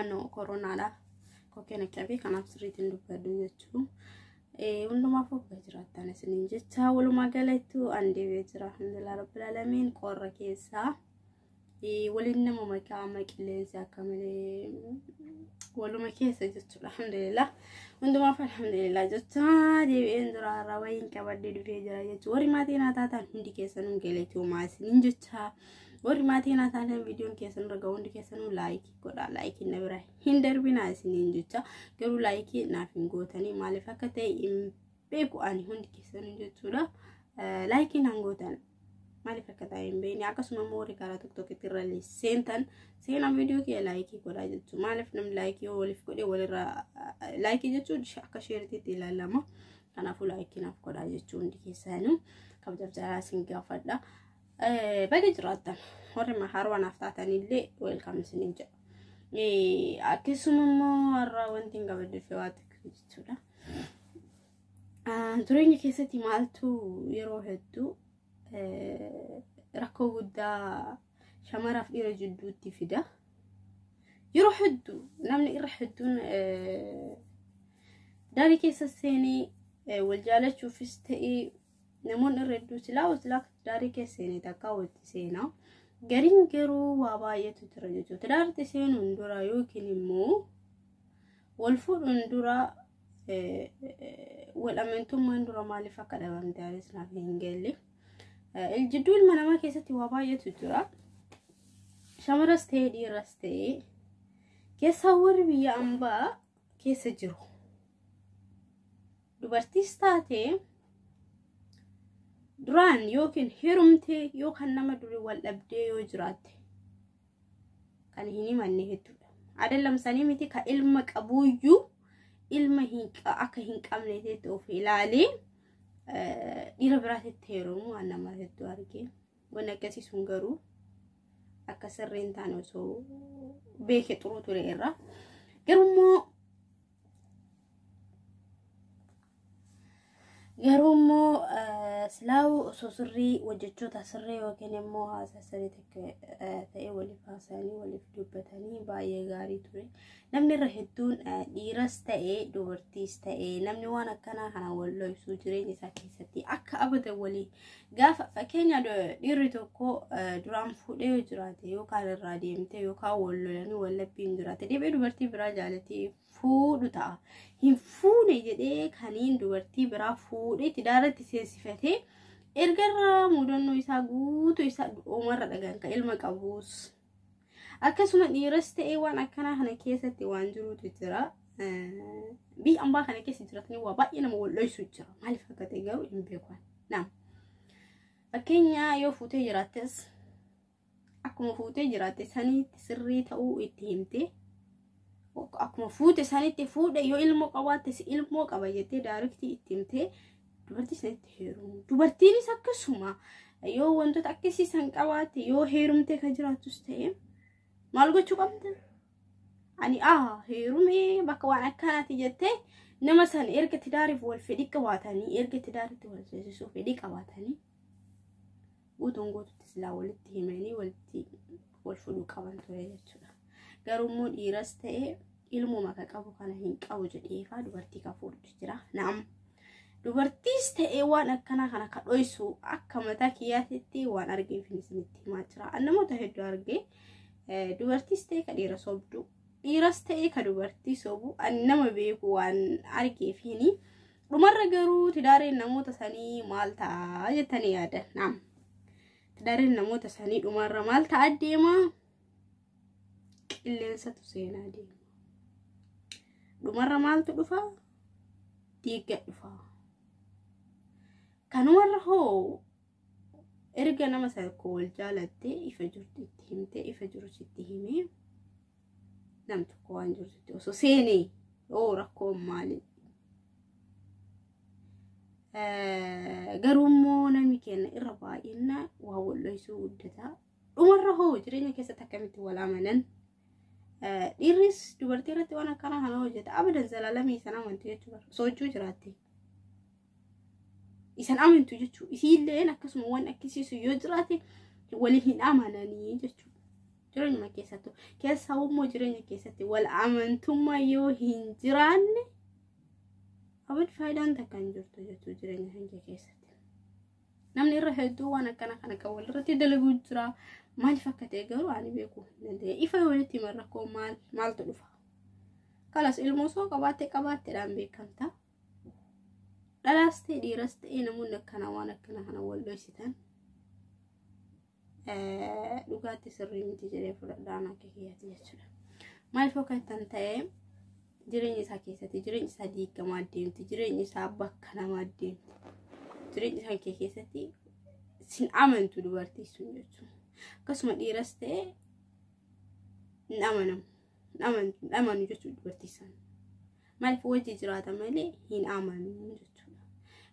ano koronaadhaaf kokkeen akka bee kanaaf sirriitiin dubbadhu jechuun hundumaaf obbaa jiraattan isiniin jecha walumaa galattu an deebi'ee jira alhamdulillah rabbil alamiin qorra keessaa waliin nama maqaama qilleensi akka malee waluma keessa jechuudha alhamdulillah hundumaaf alhamdulillah jecha deebi'een jira har'a wayiin qabadhee dhufee jira jechuudha warri maatii naa taatan hundi keessanuu galatoomaa isiniin jecha. Warri maatii naa taatan viidiyoon keessan irra ga'u hundi keessanuu laayikii godhaa laayikii na bira hin darbinaa isiniin jecha garuu laayikii naaf hin gootanii maaliif akka ta'e hin beeku ani hundi keessanuu jechuudha laayikii naan gootan maaliif akka ta'e hin beekne akkasuma immoo warri karaa tokko tokkotti irra seentan seenaa viidiyoo kee laayikii godhaa jechuudha maaliif namni laayikii yoo waliif godhe walirra laayikii jechuun akka sheeritiitti ilaalama kanaafuu laayikii naaf godhaa jechuun hundi keessanuu kabajaf jaalaa isin gaafadha. Baga jiraattan warri mahaaruu anaaf taatanillee weelkaam isiniin jedha. Akkasuma immoo har'a wanti hin gabaddee fi waa tokko jechuudha. Jireenya keessatti maaltu yeroo hedduu rakkoo guddaa shamaraaf dhiira jidduutti fida. Yeroo hedduu namni irra hedduun daarii keessa seenee wal jaalachuufis ta'ee Namoonni irra hedduu silaa silaa tidaarii keessa seenee takka walitti seenaa. Gariin garuu waa baay'eetu jira jechuudha. Tidaarti seenuun dura yookiin immoo wal fuudhuun dura wal amantummaan dura maaliif akka dhabamte anis naaf hin galle. Jidduu ilma namaa keessatti waa baay'eetu jira. Shamaras ta'ee dhiiras ta'ee keessaa warri biyya ambaa keessa jiru dubartiis taate duraan yookiin heerumtee yookaan nama duri wal dhabdee yoo jiraatte kan hin himanne hedduudha. Adeellam sanii miti ka ilma qabuuyyuu ilma akka hin qabne ta'etti of ilaalee dhiira biraatitti heerumu waan nama hedduu argee. Waan akkasii sun garuu akka sirrii hin taane osoo beeke xuruu ture irraa. Garummoo garuu immoo silaa'u osoo sirrii hojjechoota sirrii yookiin immoo haasaa sirrii ta'e waliif haasa'anii waliif dubbatanii baay'ee gaarii ture. Namni irra hedduun dhiiras ta'ee dubartiis ta'ee namni waan akkanaa kana wal dhoofsuu jireenya isaa keessatti akka abadan walii gaafa fakkeenya dhiirri tokko duraan fuudhee yoo jiraate yookaan irraa deemtee yookaan wal lolanii wal labbiin jiraate deebi'ee dubartii biraa jaalatee fuudhu ta'a. Hin fuune jedhee kaniin dubartii biraa fuudhee itti daaratti seesifatee erga irraa mudannoo isaa guutuu isaa uumarra dhagaan kan ilma qabuus. Akkasuma dhiiras ta'ee waan akkanaa kana keessatti waan jirutu jira. Biyya ambaa kana keessa jiratanii waa baay'ee nama wal'oisu jira. Maaliif akka ta'e garuu hin beekan. Naam. Fakkeenya yoo fuutee jiraattes akkuma fuutee jiraatte saniitti sirrii ta'uu itti himtee akkuma fuute sanitti fuudhe yoo ilmoo qabaattes ilmoo qaba jettee daariktii itti himtee dubartii isinitti heerumu dubartiinis akkasuma yoo wantoota akkasii san qabaatte yoo heerumtee kan jiraattus ta'e maal gochuu qabda ani a heerumee bakka waan akkanaati jettee nama san erga tidaariif wal fedhii qabaatanii erga tidaaritti wal seesisuu fedhii qabaatanii guutuun guututti silaa walitti himanii walitti wal fudhuu qaban ture jechuudha. Garuu immoo dhiiras ta'e ilmuma ka qabu kana hin qabu jedheefaa dubartii ka fuudhu jira. Naam dubartiis ta'e waan akkanaa kana ka dhoysu akka mataa kiyyaatitti waan argee fi isinitti himaa jira. Namoota hedduu argee dubartiis ta'e ka dhiira sobdu dhiiras ta'e ka dubartii sobu ani nama beeku waan argee fi Dhumarra garuu tidaareen namoota sanii maal ta'a jettanii yaadan naam. Tidaareen namoota sanii dhumarra maal ta'a deema qilleensatu seenaa deema. Dhumarra maaltu dhufa diigga dhufa. Kanumarra hoo erga nama tokko wal jaalattee ifa jirtu itti himtee ifa jiru sitti himee. Nam tokko waan jirtutti osoo seene yoo rakkoon maali? Garuu immoo namni keenya irra baay'ina waa wal'oysuu guddataa. Dhumarra hoo jireenya keessatti akkamitti wal amanan? Dhiirris dubartii irratti waan akkanaa kana hojjeta. Abadan zalaalamii sana amantii jechuudha. Sochuu jiraatte. isan amantu jechuudha. Isiilleen akkasuma waan akkisiisu yoo jiraate waliin hin amananii jechuudha. Jireenyuma keessattuu keessaa immoo jireenya keessatti wal amantummaa yoo hin jiraanne abad faayidaan takka hin jirtu jechuudha jireenya hanga keessatti. Namni irra hedduu waan akkana kana kan walirratti dalaguu jira. Maaliif akka ta'e garuu ani beekuu hin dandeenye. Ifa walitti himan rakkoo maal maaltu dhufa? Kalas ilmoo soo qabaatte qabaatteedhaan beekamta. dhalaas ta'e dhiiras ta'e namoonni akkana waan akkana kana wal dhoysitan dhugaatti sirrii miti jedhee fudhadhaan akka kiyyaati jechuudha. Maaliif akka ittan ta'e jireenya isaa keessatti jireenya isaa diigamaa deemti jireenya isaa bakka namaa deemti jireenya isaa kee keessatti sin amantu dubartii sun jechuudha. Akkasuma dhiiras ta'e hin amanamu. hin amanu jechuudha dubartii san maaliif wajji jiraata malee hin amanu jechuudha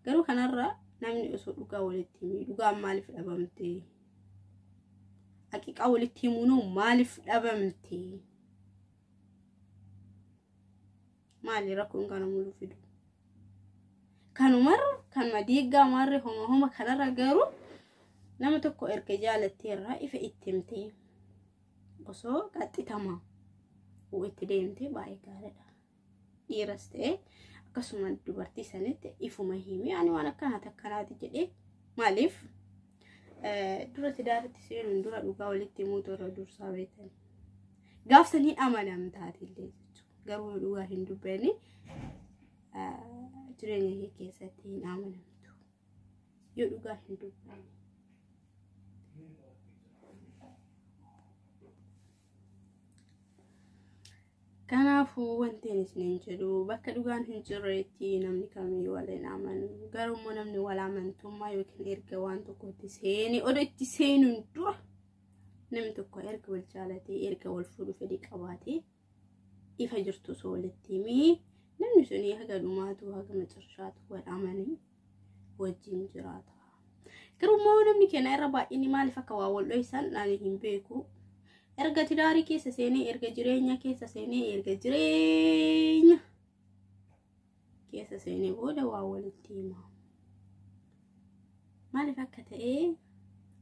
garuu kanarra namni osoo dhugaa walitti himee dhugaan maaliif dhabamte haqiqaa walitti himuunoo maaliif dhabamte maali rakkoon kana muluu fidu kanumarra kanuma diiggaa maarree homa homa kanarra garuu nama tokko erga jaalatteerraa ifa itti himtee osoo qaxxitama itti deemtee baay'ee gaariidha. Dhiiras ta'ee akkasuma dubartii sanitti ifuma himee ani waan akkanaa takkanaati jedhee maaliif dura tidaaritti seenuun dura dhugaa walitti himuutu irra dursaa beektan. Gaaf san hin amanamtaati illee jechuudha. Garuu dhugaa hin dubbanne jireenya kee keessatti hin amanamtu. Yoo dhugaa hin dubbanne. Kanaafuu wanti ani isiniin jedhu bakka dhugaan hin jirreetti namni kamiyyuu wal hin amanu. Garuu immoo namni wal amantummaa yookiin erga waan tokkotti seene odoo itti seenuun dura namni tokko erga wal jaalatee erga wal fuudhuu fedhii qabaatee ifa jirtu osoo walitti himii namni suni haga dhumaatu haga macarshaatu wal amanii wajjin jiraata. Garuu immoo namni keenya irra baay'inni maaliif akka waa wal dho'isan ani hin beeku. Erga tidaarii keessa seenee erga jireenya keessa seenee erga jireenya keessa seenee booda waa walitti hima. Maaliif akka ta'e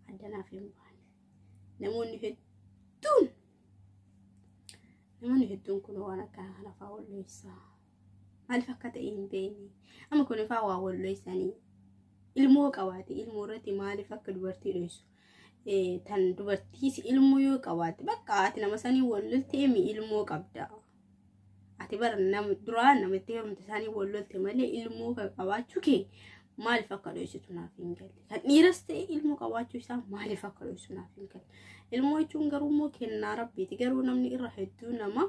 addanaaf hin baane. Namoonni hedduun namoonni hedduun kun waan akkanaa kana fa'aa walloessaa maaliif akka ta'e hin beekne amma kun fa'aa waa walloessanii ilmoo qabaate ilmoo irratti maaliif akka dubartii dhoessu tan dubartiis ilmoo yoo qabaate bakka ati nama sanii wallolteemi ilmoo qabda ati bara nam duraa namitti heerumte isaanii wal lolte malee ilmoo kan qabaachuu kee maaliif akka dhoysitu naaf hin galle kan dhiiras ta'e ilmoo qabaachuu isaa maaliif akka dhoysu naaf hin galle ilmoo jechuun garuu immoo kennaa rabbiiti garuu namni irra hedduu nama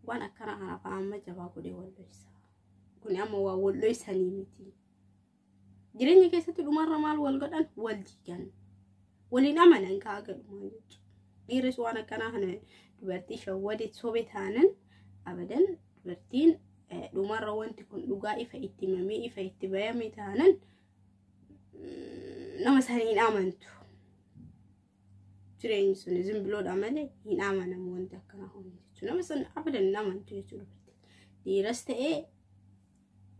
waan akkana kana fa'aa amma jabaa godhee wal dhoysa kuni amma waa wal dhoysanii miti Jireenya keessatti dhumarra maal wal godhan wal jigan. Waliin amanan ka'aa galumaan jechuudha. Dhiirris waan akkanaa kana dubartii shawwade sobe taanan abadan dubartiin dhumarra wanti kun dhugaa ifa itti himamee ifa itti bayame taanan nama sana hin amantu. Jireenyi sun zimbiloodha malee hin amanamu wanti akkanaa kun jechuudha. Nama sana abadan hin amantu jechuudha. Dhiiras ta'ee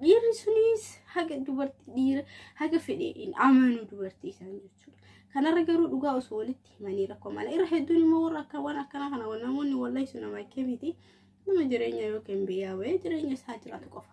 Dhiirri sunis haga dubartii dhiira haga fedhe hin amanu dubartii isaan jechuudha. Kanarra garuu dhugaa osoo walitti himanii rakkoo mala. Irra hedduun immoo warra akka waan akkanaa kana waan namoonni wallahi sun nama akka miti. Nama jireenya yookiin biyyaa wayii jireenya isaa jiraatu qofa.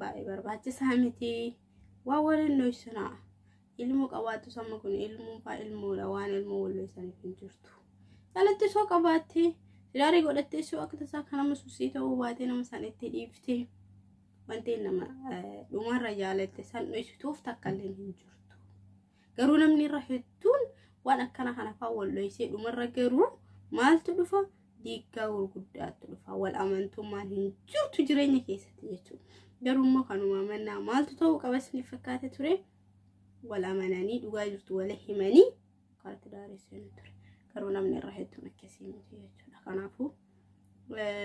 Baay'ee barbaachisaa miti. Waan waliin dhoysinaa. Ilmoo qabaattus amma kun ilmoo faa ilmoodha waan ilmoo wal dhoysaniif hin jirtu. Calatti soo qabaattee siraarii godhattee soo akka tasaa kan nama sussii ta'uu baatee nama san itti dhiiftee wanti nama dhumarra jaalatte san dhoysituuf takka illee hin jirtu. Garuu namni irra hedduun waan akkana kana fa'aa wal dhoysee dhumarra garuu maaltu dhufa diiggaa gurguddaatu dhufa wal amantummaan hin jirtu jireenya keessatti jechuudha. Garuu immoo kanuma amannaa maaltu ta'uu qaba isiniif fakkaate ture wal amananii dhugaa jirtu wal himanii karatti daaressanii ture. Garuu namni irra hedduun akkasii miti jechuudha. Kanaafuu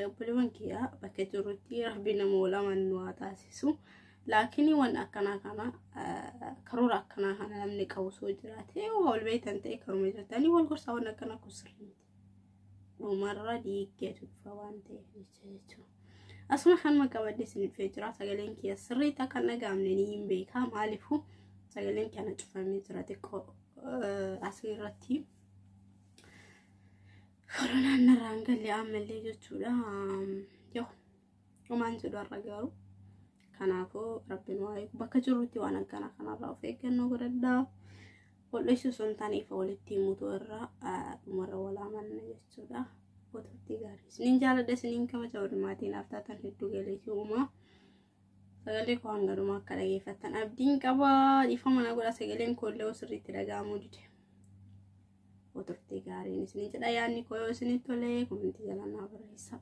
obboleewwan kiyyaa bakka jirrutti rabbi nama wal amanu nu haa taasisu laakiin waan akkanaa kana karoora akkanaa kana namni qabu soo jiraate wal beektan ta'e karuma jirtanii wal gorsaa waan akkanaa kun sirrii miti dhumarra diiggeetu dhufa waan ta'eef jecha jechuudha. Asuma kanuma qabadde isiniif jira sagaleen kiyya sirrii ta'a kan dhagahamne ni hin beekaa maaliifuu sagaleen kana cufamee jira xiqqoo asirratti. Koronaan narraan galle ammallee jechuudha. Yoo homaan jedhu har'a garuu. Kanaafuu rabbiin waa eegu bakka jirrutti waan akkanaa kanarraa of eeggannoo godhadhaa. Hodheessuu osoo hin taane ifa walitti himuutu irraa dhumarra wal amanna jechuudha. Gotoottii gaarii. Isiniin jaaladha isiniin kabaja walumaatiin aftaatan hedduu galeetii uumaa. Sagalee koo hanga dhumaa akka dhageeffattan abdiin qaba. Dhiifama na godha sagaleen koo illee sirriitti dhaga'amuu dide. Koo turtee gaariin isin jedha yaadni koo yoo isinitti tole komentii jalaa naa barreessaa.